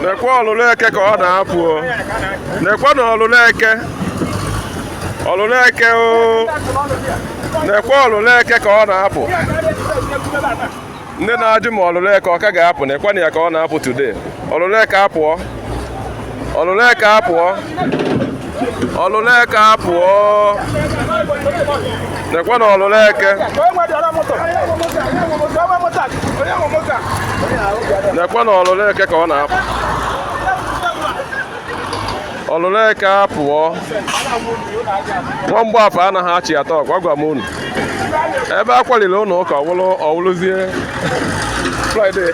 nekwa ọlụlụ eke ka ọ na-apụ nekwanụ ọlụlụ eke ọlụlụ eke o nekwa ọlụlụ eke ka ọ na-apụ ndị na-ajụ ma ọlụlụ eke ọ ka ga-apụ nekwanụ ya ka ọ na-apụ today ọlụlụ eke apụọ ọlụlụ eke apụọ ọlụlụ eke apụọ nekwanụ ọlụlụ eke nekwanụ ọlụlụ eke ka ọ na-apụ ọlụlụ eke apụọ nwamgbe afọ anaghị achị atọ ọkwa gwa m unu ebe a kwaliri ụlọ ụka ọ wụlụzie friday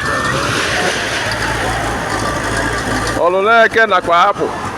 ọlụlụ eke nakwa apụ